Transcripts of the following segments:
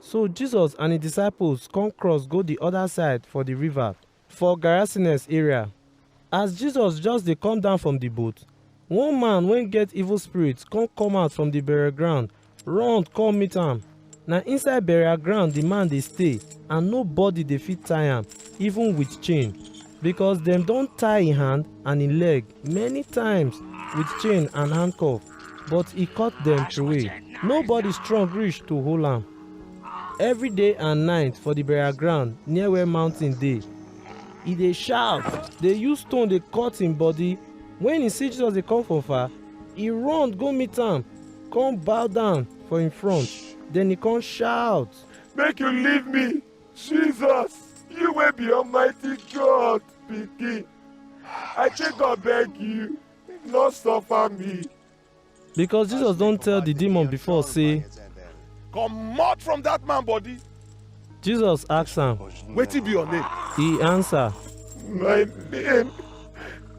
So Jesus and his disciples come cross go the other side for the river, for Gerasenes area. As Jesus just dey come down from the boat, one man wey get evil spirit come come out from the burial ground, run come meet am. Na inside burial ground the man dey stay and nobody dey fit tie am, even with chain, because dem don tie him hand and him leg many times with chain and handcuff. but e cut dem throway. Nobody strong reach to hold am. Every day and night for the burial ground near where mountain dey, e dey shout, dey use stone dey cut him body. When e see Jesus dey come from far, e run go meet am, come bow down for him front. Then e come shout, Make you leave me, Jesus, you wey be Almighty God pikin. I take God beg you. no stop am me. because jesus don tell the demon before say comot from that man body. jesus ask am wetin be your name. he answer. my name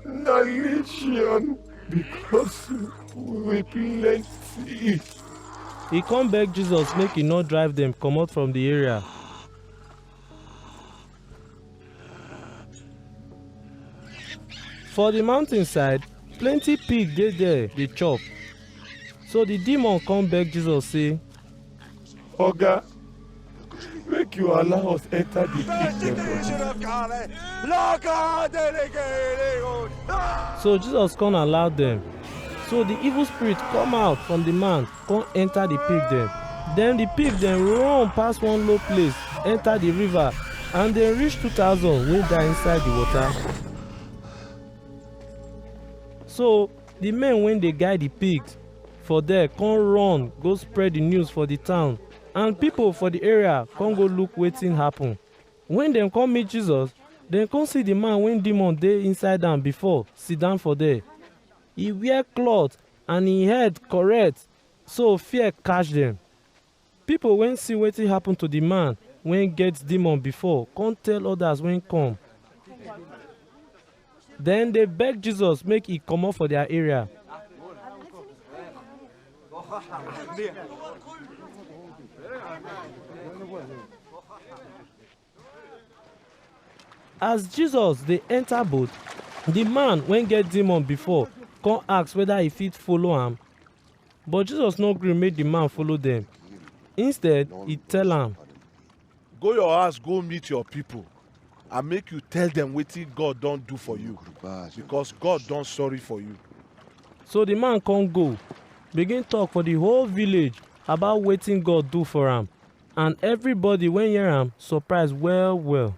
na legion because we plenty. he come beg jesus make he no drive dem comot from the area. For the mountain side, plenty pig dey there dey chop. So the demon come beg Jesus say, Oga, make you allow us enter the pig dem. So Jesus come allow them. So the evil spirit come out from the man kon enter di pig dem. Den di pig dem run pass one low place enter di river and dem reach two thousand wey die inside di water. So di men wey dey guide di pigs for there kon run go spread di news for di town and pipo for di area kon go look wetin happen. Wen dem kon meet Jesus, dem kon see di man wey demon dey inside am before sidon for there. E wear cloth And hin head korrect, so fear catch dem. Pipol wen si wetin happen to di man wen get demon before kon tell odas wen kom. Dem dey beg Jesus make e komot for dia area. As Jesus dey enter boat, the man wey get demon before come ask whether he fit follow am. But Jesus no gree make the man follow them. Instead, he tell am, Go your house, go meet your people, and make you tell them wetin God don do for you, because God don sorry for you. So the man come go, begin talk for the whole village about wetin God do for am. and everybody wey hear am surprise well well.